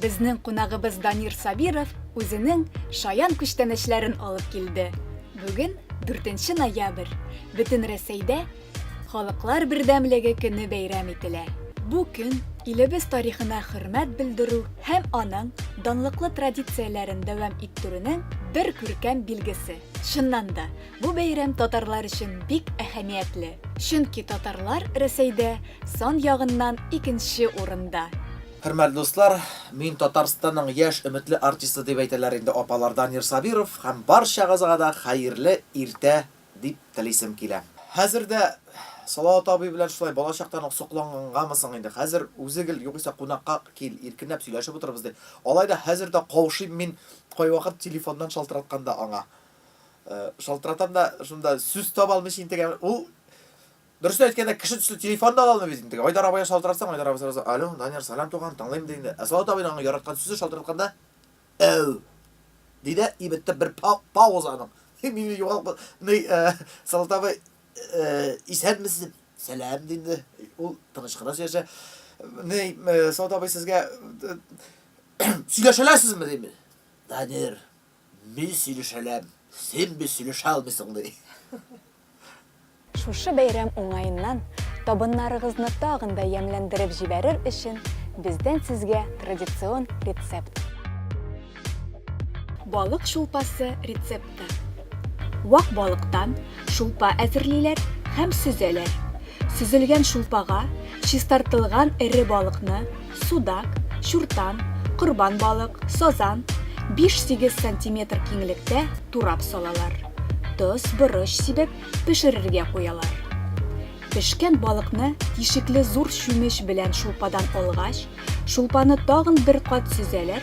Безнең кунагыбыз Данир Сабиров үзенең шаян күчтәнәчләрен алып килде. Бүген, 4 нче ноябрь, Бөтенрәсәйдә Халыклар бердәмлеге көне бәйрәм ителә. Бу көн илебез тарихына хөрмәт белдерү һәм аның данлыклы традицияләрен дәвам иттерүнең бер күркәм билгесе. Чыннан да, бу бәйрәм татарлар өчен бик әһәмиятле, чөнки татарлар Рәсәйдә сан ягыннан икенче урында. Хөрмәтле дуслар, мин Татарстанның яшь өметле артисты дип әйтәләр инде апалар Данир Сабиров һәм барчагызга да хәерле иртә дип телисем килә. Хәзер дә Салават абый белән шулай балачактан ук соклангангамы соң инде, хәзер үзе гел, югыйсә кунакка кил, иркенләп сөйләшеп утырырбыз ди. Алай да хәзер дә каушыйм мин кайвакыт телефоннан шалтыратканда аңа. Шалтыратам да, шунда сүз таба алмыйча интегәм, ул Дөресен әйткәндә, кеше төсле телефон да ала алмый бит инде. Айдар абыйга шалтыратсаң, Айдар абый сразу, алло, Данияр, салам туган, тыңлыйм ди инде. Ә Салават абыйның аңа яраткан сүзе шалтыратканда, әү, ди дә, и бетте, бер пауза аның. Мине югалып, ни, Салават абый, исәнмесез, сәлам, ди инде. Ул тыныч кына сөйләшә. Ни, Салават абый сезгә сөйләшәләсезме, дим. Данияр, мин сөйләшәләм, син бит сөйләшә алмыйсың, ди. Шушы бәйрәм уңаеннан табыннарыгызны тагын да ямьләндереп җибәрер өчен бездән сезгә традицион рецепт. Балык шулпасы рецепты. Вак балыктан шулпа әзерлиләр һәм сөзәләр. Сөзелгән шулпага чистартылган эре балыкны, судак, чуртан, корбан балык, сазан, 5-8 сантиметр киңлектә турап салалар. Тоз, борыч сибеп, пешерергә куялар. Пешкән балыкны тишекле зур чүмеч белән шулпадан алгач, шулпаны тагын бер кат сөзәләр